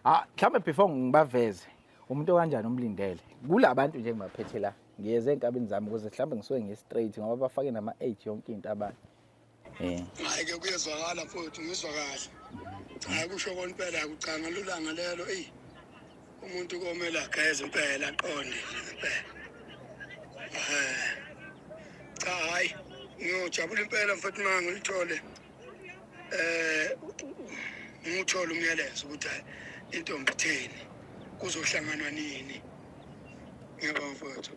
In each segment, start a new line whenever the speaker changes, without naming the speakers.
Ah, mhlambe before ngibaveze umuntu kanjani umlindele. Kulabantu nje ngibaphethe la. Ngiyeze enkabini zami ukuze mhlambe ngisuke ngi straight ngoba bafake nama 8 yonke into abantu. Eh.
Hayi ke kuyezwakala futhi ngizwa kahle. Hayi kusho konpela akucanga lulanga lelo ey. Umuntu komele ageze impela aqonde impela. Eh. Cha hayi ngiyojabula impela mfethu mangilithole. eh ngithola umyalezo ukuthi hayi intombi itheni kuzohlanganwa nini ngiyabonga mfowethu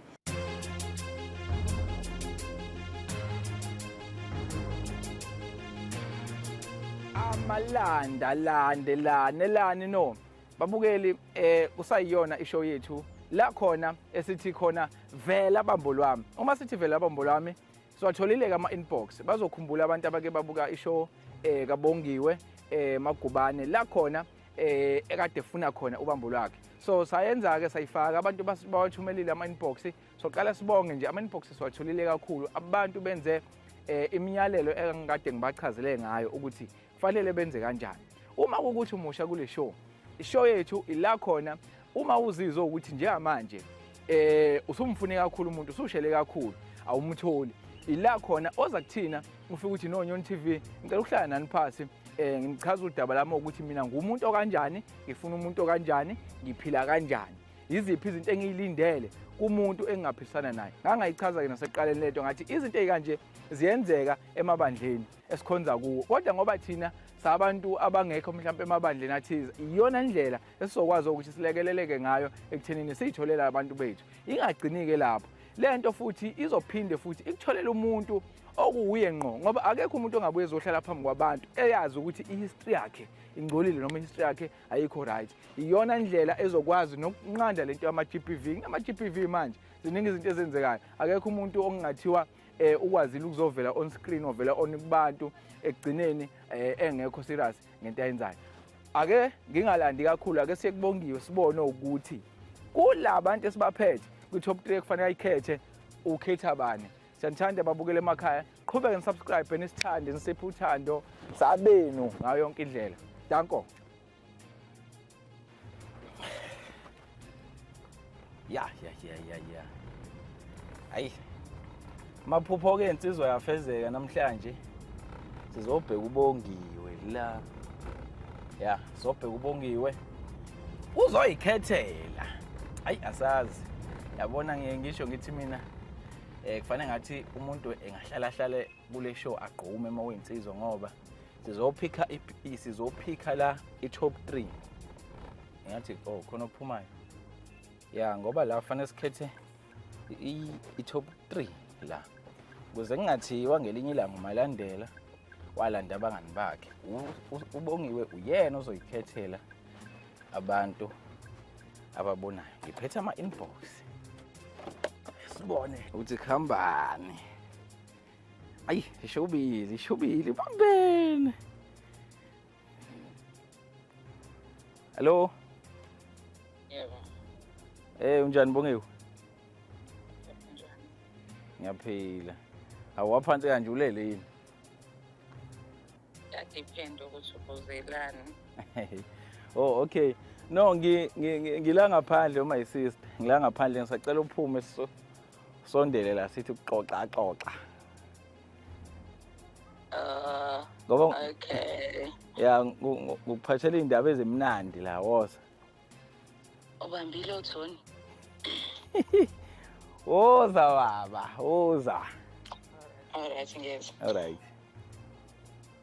amalanda lande lane lani no babukeli eh kusayiyona ishow yethu la khona esithi khona vela bambo lwami uma sithi vela bambo lwami siwatholile-ke ama-inbox bazokhumbula abantu abake babuka ishow um kabongiwe um eh, magubane la khona eh ekade efuna khona ubambo lwakhe so sayenza ke sayifaka abantu bawathumelile ama inbox soqala sibonge nje ama inbox siwatholile kakhulu abantu benze eh, imiyalelo engikade ngibachazele ngayo ukuthi Kufanele benze kanjani? Uma ukuthi umusha kule show, ishow yethu ila khona uma uzizwa ukuthi njengamanje eh usumfune kakhulu umuntu usushele kakhulu awumtholi ila khona oza kuthina ufika ukuthi no Nyon TV ngicela ukuhlala nani phasi eh ngichaza udaba lami ukuthi mina ngumuntu okanjani ngifuna umuntu okanjani ngiphila kanjani yiziphi izinto engiyilindele kumuntu engingaphilisana naye ngangayichaza ke naseqaleni lento ngathi izinto ezikanje ziyenzeka emabandleni esikhonza kuwo kodwa ngoba thina sabantu abangekho mhlawumpe emabandleni athize iyona ndlela esizokwazi ukuthi silekeleleke ngayo ekuthenini siyitholela abantu bethu ingagcini-ke lapho le nto futhi izophinde futhi ikutholela umuntu okuwuye ngqo ngoba akekho umuntu ongabuye ezohlala phambi kwabantu eyazi ukuthi ihistory yakhe ingcolile noma ihistory yakhe ayikho right iyona ndlela ezokwazi nokunqanda lento yama-GBV kunama-GBV manje ziningi izinto ezenzekayo akekho umuntu okungathiwa eh ukwazile ukuzovela on screen ovela on kubantu ekugcineni eh, engekho serious ngento ayenzayo ake ngingalandi kakhulu ake siyekubongiwe sibone ukuthi kulabantu esibaphethe kwi top 3 kufanele ayikhethe ukhetha bani siyanithanda babukele emakhaya qhubeke nisubscribe nisithande nisiphe uthando sabenu ngayo yonke indlela danko ya ya ya ya ya ayi maphupho ke insizwa yafezeka namhlanje sizobheka ubongiwe la ya sobheka ubongiwe uzoyikhethela ayi asazi yabona ngiye ngisho ngithi mina eh kufanele ngathi umuntu engahlala hlale kule show agqume uma uyinsizwa ngoba sizophikha sizophikha la i-top 3 ngathi oh khona ophumayo ya ngoba la fanele sikhethe i-top 3 la kuze kungathiwa ngelinye ilanga umalandela walanda abangani bakhe ubongiwe uyena ozoyikhethela abantu ababonayo ngiphethe ama-inbox sibone ukuthi kuhambani Ayi, ishubile, ishubile. Bambene. Hello.
Yebo. Eh, unjani Bongiwe?
Ngiyaphila. Awaphansi kanje ulele yini?
Depend ukuthi ubuzelani.
Oh, okay. No, ngi ngila ngaphandle uma yisister. Ngila ngaphandle ngisacela uphume so Sondele la sithi kuxoxa xoxa. Uh, ngoba okay.
Ya
ngikuphathela indaba ezimnandi la woza.
Ubambile uThoni.
Woza baba, woza. All
right, ngiyeza. All right.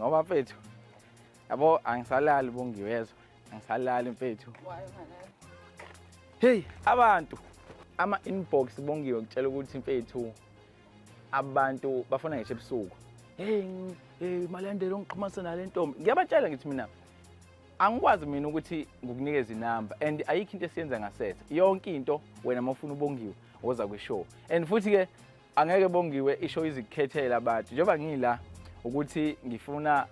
ngoba mfethu yabo angisalali bongiwezwa angisalali mfethu
heyi
abantu ama-inbox bongiwe kutshela ukuthi mfethu abantu bafuna ngisho ebusuku heyi hey, malandela ongixhumasa nale ntombi ngiyabatshela ngithi mina angikwazi mina ukuthi ngikunikeze inamba and ayikho into esiyenza ngasetha yonke into wena uma ufuna ubongiwe woza kwishow and futhi-ke angeke bongiwe isho izikhethela abantu njengoba ngila ukuthi ngifuna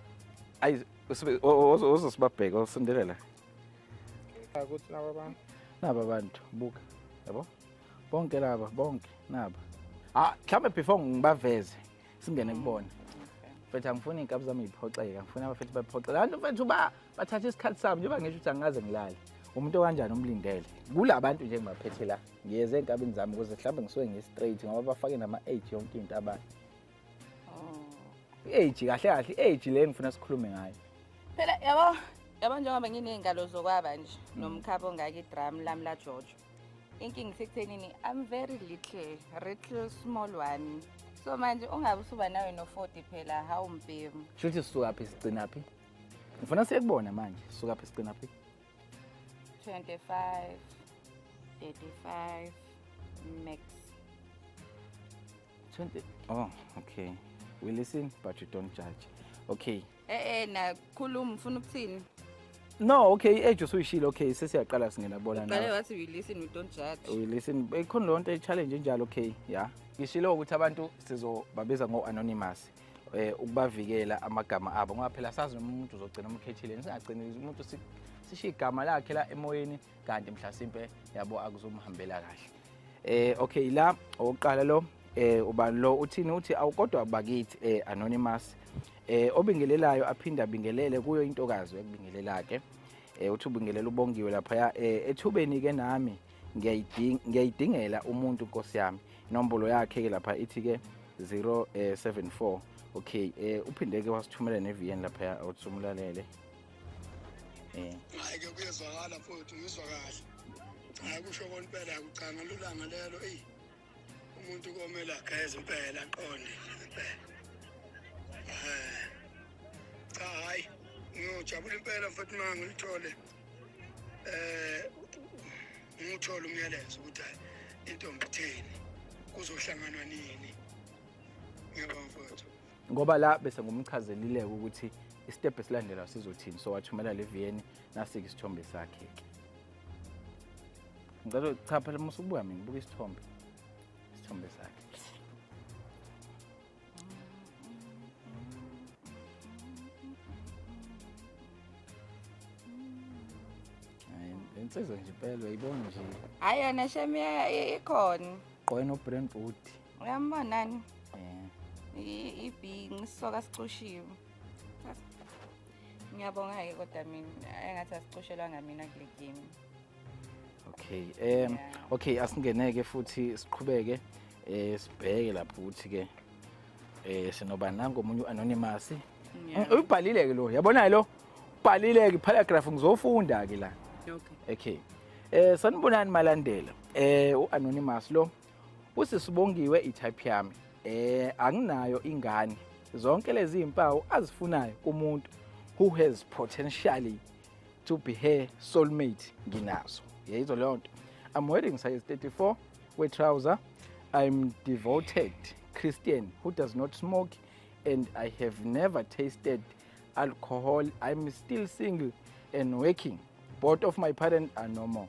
ayi ozosibabheka osondelela
ukuthi nabo abantu
nabo abantu buka yabo bonke laba bonke naba ah mhlambe before ngibaveze singene kubona mfethu angifuni iy'nkabi zami yiphoxeka ngifuni abafethu baphoxeka abantu mfethu ba bathatha isikhathi sami njengoba ngisho ukuthi angikaze ngilale umuntu okanjani umlindele kula bantu nje ngibaphethe la ngiyeze enkabini zami ukuze mhlawumbe ngisuke ngi-straight ngoba bafake nama-age yonke into abantu oh. i-age kahle kahle i-age le ngifuna sikhulume ngayo phela yabo
yabo njengoba nginey'ngalo zokwaba nje mm. nomkhaba ongaka idramu lami lajojo inkinga isekuthenini i'm very little little small one so manje ungabe usuba nawe no-forty phela hawu mbhemu shuthi sisukaphi
sigcinaphi ngifuna siyekubona manje sisukaphi sigcinaphi 25 35
max
20 oh okay we listen but you don't judge okay eh eh nakhuluma
ufuna ukuthini no okay
i-age usuyishile okay sesiyaqala singena bona nawe qale wathi we listen we
don't judge we listen ikhona
lonto i-challenge enjalo okay ya ngishilo ukuthi abantu sizobabiza ngo-anonymous eh, ukubavikela amagama abo ngoba phela sazi noma umuntu uzogcina umkhethile singagcini umuntu sishiye igama lakhe la emoyeni kanti mhlasimpe yabo akuzomhambela kahle eh okay la owokuqala lo eh ubani lo uthini uthi awukodwa bakithi eh anonymous eh obingelelayo aphinde abingelele kuyo intokazi ekubingelelake eh uthi ubingelela ubongiwe lapha eh, ethubeni ke nami ngiyayidingela umuntu nkosi yami inombolo yakhe ke lapha ithi ke 074 eh, okay eh uphinde ke wasithumela neVN lapha uthi umlalele eh
hayi ke kuyezwakala futhi uyizwa kahle hayi kusho konke phela akucanga lulanga lelo eyi umuntu komele ageze impela aqonde impela eh, cha hayi ngiyojabula impela futhi uma ngilithole eh ngithole umyalezo ukuthi hayi intombi itheni kuzohlanganwa nini ngiyabonga mfowethu ngoba la bese
ngumchazelileke ukuthi isitebhu esilandelayo sizothini so wathumela le viyeni nasike isithombe sakhe-ke ngicela cha phela uma usubuka mina buka isithombe isithombe sakhe insizwa nje impela uyayibona nje hayi yona shem
ikhona gqoke no-brain
boot uyambonani
ibhingi isisoka sicushiwe Ngiyabonga-ke kodwa mina engathi asicoshelwanga mina kule game. Okay.
Um yeah. okay asingeneke futhi siqhubeke eh sibheke lapho ukuthi ke eh sinoba nango omunye uanonymous. Yeah. Ubhalile ke lo. Yabona lo. Ubhalile ke paragraph ngizofunda ke la. Okay. Okay. Eh sanibonani malandela. Eh uanonymous lo. usisibongiwe itype yami eh anginayo ingane zonke lezi impawu azifunayo kumuntu who has potentially to be her soulmate nginazo yeyizo leyo nto i'm wearing size 34 we trouser i'm devoted christian who does not smoke and i have never tasted alcohol i'm still single and working both of my parents are normal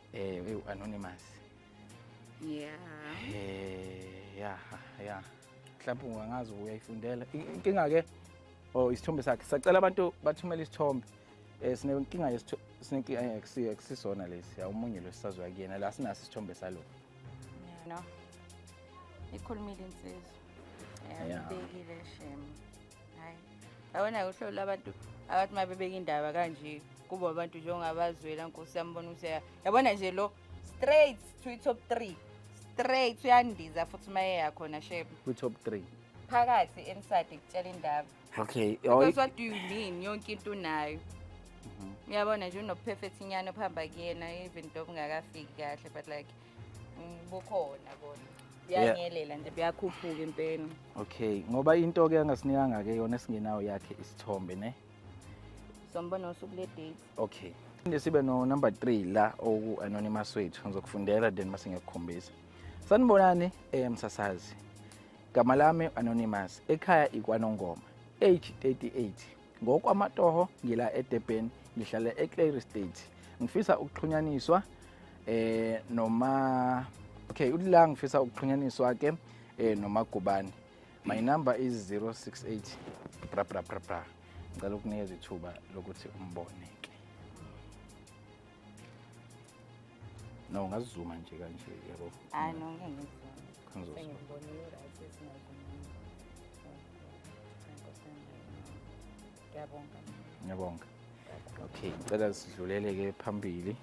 Eh, hey, anonymous.
Yeah. Eh, yeah,
yeah. Mhlawumbe ungangazi uyayifundela. Inkinga ke oh isithombe sakhe. Sacela abantu bathumele isithombe. Eh sinenkinga yesithombe sinenkinga yakusiyo eh, akusisona lesi. Awumunye lo sisazwa kuyena la sinaso isithombe salo. Yeah, no.
Ikhulumile insizwa. Yeah, yeah. Ubekile shame. hayi yabona-ke uhlolo lwabantu abathi uma bebeka indaba kanje kubo abantu njengabazwela nkosi yambona ukuthi ya- yabona nje lo straight to i-top three straight uyandiza futhi uma eyakhona sheba kwi-top three
phakathi
emsadi kutshela indaba okay oh, because
what do you
mean yonke into unayo uyabona nje unophefethinyana phamba kuyena even though kungakafiki kahle but like bukhona kona buyanyelela nje buyakhuphuka impela okay ngoba
into ke angasinikanga ke yona esingenayo yakhe isithombe ne sombona
usuku le date okay Phinde
sibe no number 3 la oku anonymous wethu ngizokufundela then mase ngiyakukhombisa. Sanibonani eh msasazi. Gama lami anonymous ekhaya ikwanongoma age 38 ngokwamatoho ngila edurban ngihlala eclary state ngifisa ukuxhunyaniswa eh noma okay ulila ngifisa ukuxhunyaniswa ke eh noma gubani my number is 068 bra bra bra bra ngicela ukunikeza ithuba lokuthi umbone na ungazizuma nje kanje yabo hayi no
ngeke ngizizuma sengibona i-right
esingazumanga ngiyabonga ngiyabonga okay ngicela sidlulele-ke phambili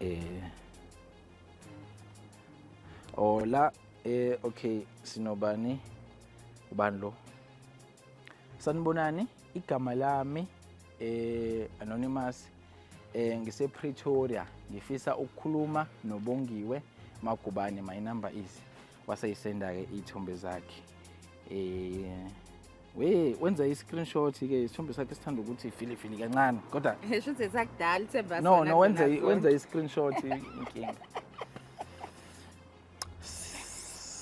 eh ola eh okay sinobani ubani lo Sanibonani, igama lami eh anonymous eh ngise Pretoria ngifisa ukukhuluma nobongiwe Magubane my number is waseyisenda ke ithombe zakhe eh we wenza i screenshot ke isithombe sakhe sithanda ukuthi fili fili kancane kodwa ngisho ukuthi sakudala
ithemba no no wenza wenza
i screenshot inkinga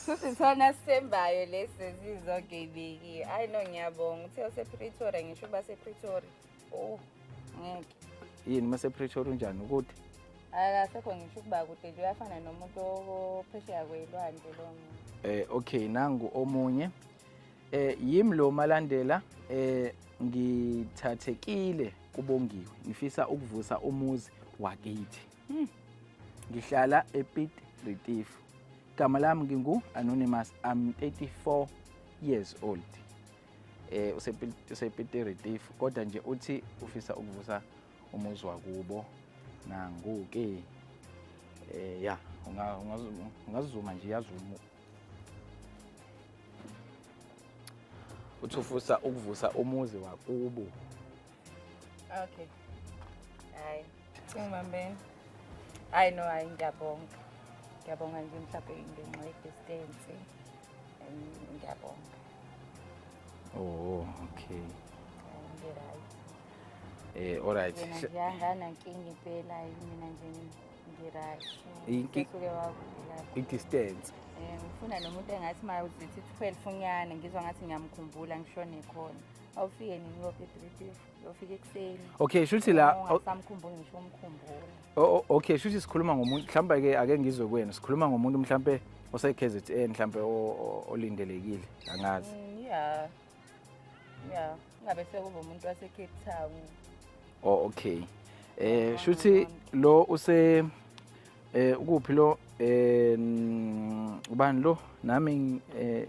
Sisithana sisembayo lesi zizogebeki. Hayi no ngiyabonga. Uthe usePretoria ngisho uba sePretoria. Oh, ngeke. Yini uma
sePretoria unjani ukuthi? Akasekho
ngisho ukuba kude nje uyafana nomuntu ophesheya kwelwandle lo muntu. Eh okay nangu
omunye. Eh yimi lo malandela eh ngithathekile kubongiwe. Ngifisa ukuvusa umuzi wakithi. Hmm. Ngihlala ePit Retief. Igama lami ngingu Anonymous. I'm 34 years old. Eh usePit Retief kodwa nje uthi ufisa ukuvusa umuzi wakubo nangu ke eh ya ungazuma nje yazuma uthi ufusa ukuvusa umuzi wakubo
Okay. Hayi. Ungibambeni. Hayi no hayi ngiyabonga. Ngiyabonga nje mhlawumbe ngenxa ye-distance. Ngiyabonga.
Oh, okay. Ngi-right. Eh,
all right. Yena
ngiyangana nkinga
impela mina nje ngi-right. Inki- Usuke wakubheka. I-distance.
Eh, ngifuna
nomuntu engathi uma uzithi 12 unyane ngizwa ngathi ngiyamkhumbula ngishone khona. awufike nini uyophi ebhilidini uyofika ekuseni okay shuthi la
ungasamkhumbuli ngisho
umkhumbula oh, okay shuthi
sikhuluma ngomuntu mhlawumbe ke ake ngizwe kwenu sikhuluma ngomuntu mhlawumbe ose-kzn mhlawumbe olindelekile angazi mm, ya ya
ngabe sekuba umuntu wase-cape town oh
okay eh shuthi lo use eh ukuphi lo eh ubani lo nami eh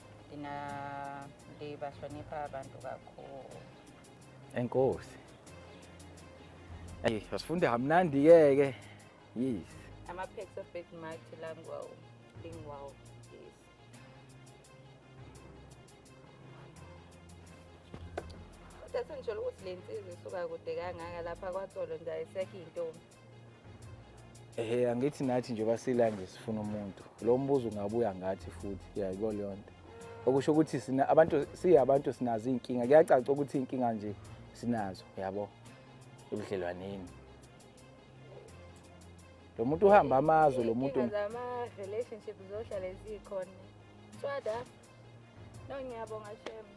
Ndina ndibahlonipha abantu kakhulu.
Enkosi. Hey, wasifunde hamnandi ke ke. Yes. Ama packs of
big might langwa lingwa. Yes. Kodwa senjolo ukuthi le nsizwa isuka kude kangaka lapha kwatsolo nje ayisekho intombi. Ehe
angithi nathi nje basila nje sifuna umuntu. Lo mbuzo ungabuya ngathi futhi yayiko leyo nto. Okusho ukuthi sina abantu siyabantu sinazo inkinga. Kuyacaca ukuthi inkinga nje sinazo yabo ebudlelwaneni. Lo muntu uhamba amazwe lo muntu. Zama relationship
zohlala ezikhona. Swada. No ngiyabonga shema.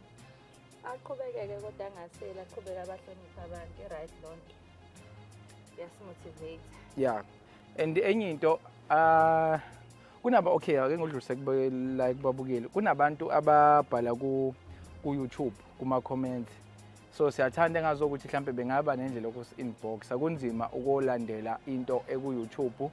Aqhubekeke kodwa angasela, aqhubeke abahlonipha abantu, i-right lonto. yasimotivate yeah
and enye into uh kunaba okay ake ngidlulise like babukeli kunabantu ababhala ku ku YouTube kuma comments so siyathanda engazokuthi mhlambe bengaba nendlela yokusi inbox akunzima ukolandela into eku YouTube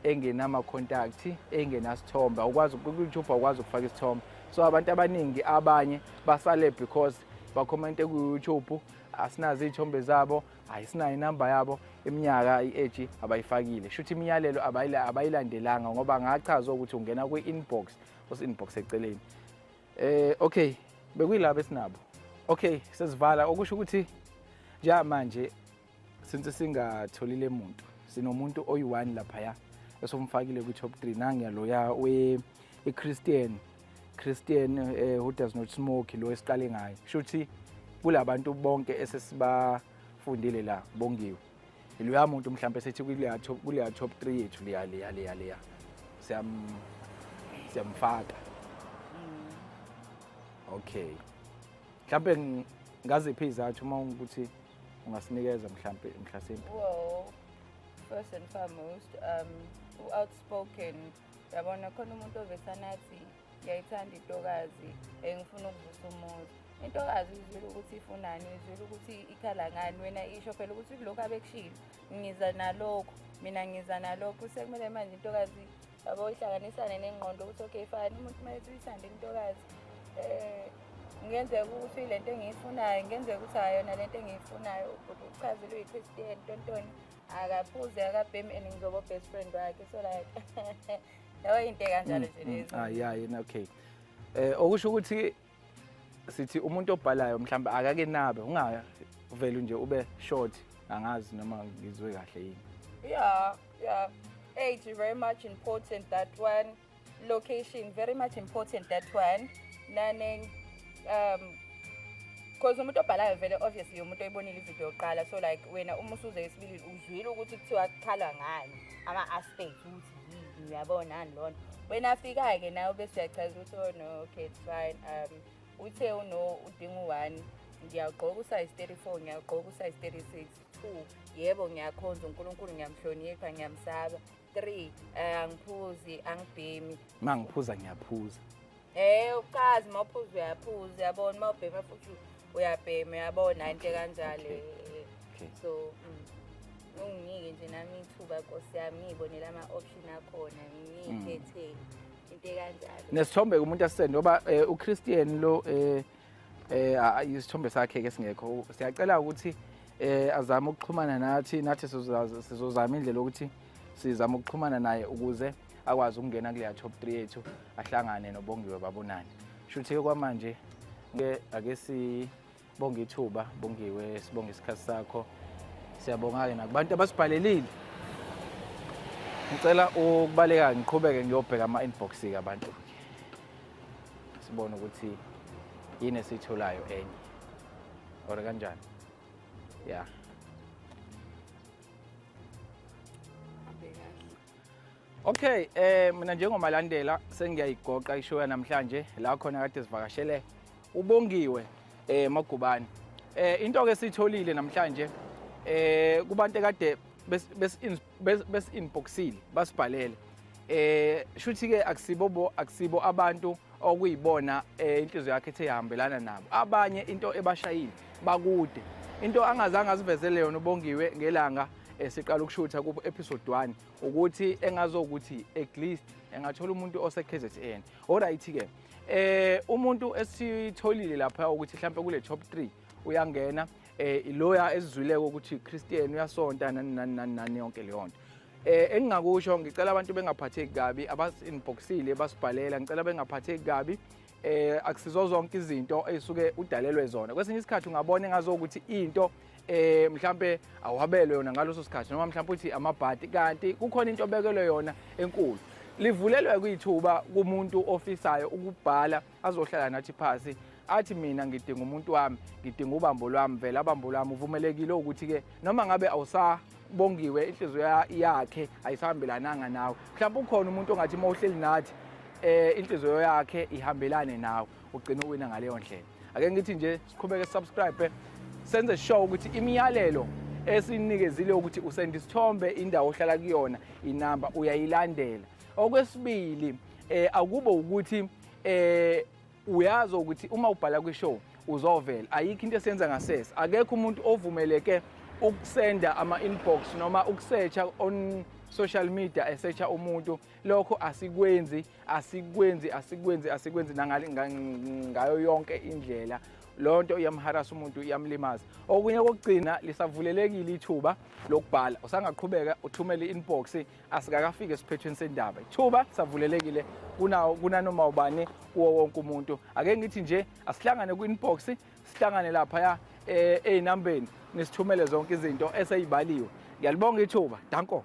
engenama contact engenasithombe ukwazi ku YouTube awukwazi ukufaka isithombe so abantu abaningi abanye basale because bakhomente ku YouTube asinazo iy'thombe zabo ayisinayo inamba yabo iminyaka i-age abayifakile shuthi imiyalelo abayilandelanga ngoba ngachazwa ukuthi ungena kwi-inbox osi-inbox eceleni eh okay bekuyilabo esinabo okay sesivala okusho ukuthi njengamanje since singatholile muntu sinomuntu oyi-one laphaya esomfakile kwi-top three nangiyaloya we-christian Christian eh, who does not smoke lo esiqale ngayo shuthi kulabantu bonke esesibafundile la bongiwe iloya muntu mhlawumbe sethi kuleya top kuleya top 3 yethu leya leya leya leya siyam siyamfaka mm. okay mhlawumbe ngaziphi izathu uma ukuthi ungasinikeza mhlawumbe mhlasimbe well first and
foremost um outspoken yabona khona umuntu ovesana athi ngiyayithanda intokazi um ngifuna ukuvusa umuzi intokazi izwile ukuthi ifunani izwile ukuthi ikhala ngani wena isho phela ukuthi kulokhu abekushilo ngiza nalokho mina ngiza nalokho sekumele manje intokazi yabo ihlanganisane nengqondo ukuthi okay fani umuntu uma ethi uyithande intokazi um ngenzeka ukuthi le nto engiyifunayo ngenzeka ukuthi ayona le nto engiyifunayo uchazelwe yi-christian tontoni akaphuze akabhemi and ngizobo best friend wakhe so like leyo into kanjalo nje mm, mm. lezi ah yeah yini okay
eh okusho ukuthi sithi umuntu obhalayo mhlawumbe akake nabe ungavele nje ube short angazi noma ngizwe kahle yini yeah
yeah age is very much important that one location very much important that one nane um cause umuntu obhalayo vele obviously umuntu oyibonile ivideo yokuqala so like wena uma usuze esibili uzwile ukuthi kuthiwa kukhalwa ngani ama-aspect ukuthi yini uyabonani lona wena afika-ke nawe bese uyachaza ukuthi oh no okay it's fine um uthe uno udinga u-one ngiyagqoka usize 34 ngiyagqoka usize 36 two yebo ngiyakhonza unkulunkulu ngiyamhlonipha ngiyamsaba 3 eh, angiphuzi angibhemi uma ngiphuza
ngiyaphuza Eh ukazi
mawuphuza uyaphuza uyabona mawubhema futhi uyabhema uyabona into kanjalo Okay. so mm, unginike nje nami ithuba nkosi yami ngiyibonela ama option akhona ngiyikhethe mm. into kanjalo nesithombe kumuntu asisende
ngoba eh, uChristian lo eh, eh isithombe sakhe ke singekho siyacela ukuthi eh azame ukuxhumana nathi nathi sizozama indlela ukuthi sizama ukuxhumana naye ukuze akwazi ukungena kuleya top 3 yethu ahlangane nobongiwe babonane shuthi ke kwamanje ke ake sibonge ithuba bongiwe sibonge isikhathi sakho siyabonga ke nakubantu abasibhalelile ngicela ukubaleka ngiqhubeke ngiyobheka ama inbox ke abantu sibone ukuthi yini esiyitholayo enye or kanjani ya yeah. Okay, eh mina njengomalandela sengiyayigoqa ishow namhlanje la khona kade sivakashele ubongiwe eh Magubane. Eh into ke sitholile namhlanje eh kubantu kade bes besi-inboxile basibhalele eh shuthi ke akusibo bo akusibo abantu okuyibona eh, inhliziyo yakhe ethe ihambelana nabo abanye into ebashayile bakude into angazange azivezele yona ubongiwe ngelanga esiqala eh, ukushutha ku episode 1 ukuthi engazokuthi at least engathola umuntu ose KZN alright ke eh umuntu esitholile lapha ukuthi mhlawumbe kule top 3 uyangena eh iloya esizwileke ukuthi uChristian uyasonta nani nani nani nani yonke leyo nto eh engingakusho ngicela abantu bengaphatheki kabi abasinboxile basibhalela ngicela bengaphatheki kabi eh akusizo zonke izinto ezisuke udalelwe zona kwesinye isikhathi ungabona engazo ukuthi into eh mhlambe awabelwe yona ngaloso sikhathi noma mhlambe uthi amabhadi kanti kukhona into obekelwe yona enkulu livulelwe kwithuba kumuntu ofisayo ukubhala azohlala nathi phasi athi mina ngidinga umuntu wami ngidinga ubambo lwami vele abambo lwami uvumelekile ukuthi-ke noma ngabe awusa bongiwe inhliziyo yakhe ayisahambelananga nawe mhlawumbe ukhona umuntu ongathi uma uhleli nathi eh inhliziyo yakhe ihambelane nawe ugcina uwina ngaleyo ndlela ake ngithi nje siqhubeke subscribe senze sure ukuthi imiyalelo esinikezile ukuthi usenda isithombe indawo ohlala kuyona inamba uyayilandela okwesibili eh akube ukuthi eh uyazi ukuthi uma ubhala kwishow uzovela ayikho into esenza ngasese akekho umuntu ovumeleke ukusenda ama-inbox noma ukusetsha on social media esetsha umuntu lokho asikwenzi asikwenzi asikwenzi asikwenzi ngayo yonke indlela loo nto iyamharasa umuntu iyamlimaza okunye kokugcina lisavulelekile ithuba lokubhala usangaqhubeka uthumele i-inbox asikakafiki esiphethweni sendaba ithuba savulelekile kunawo kunanoma ubani kuwo wonke umuntu ake ngithi nje asihlangane kwi-inbox sihlangane laphaya eh, ey'nambeni nisithumele zonke izinto eseyibaliwe ngiyalibonga ithuba danko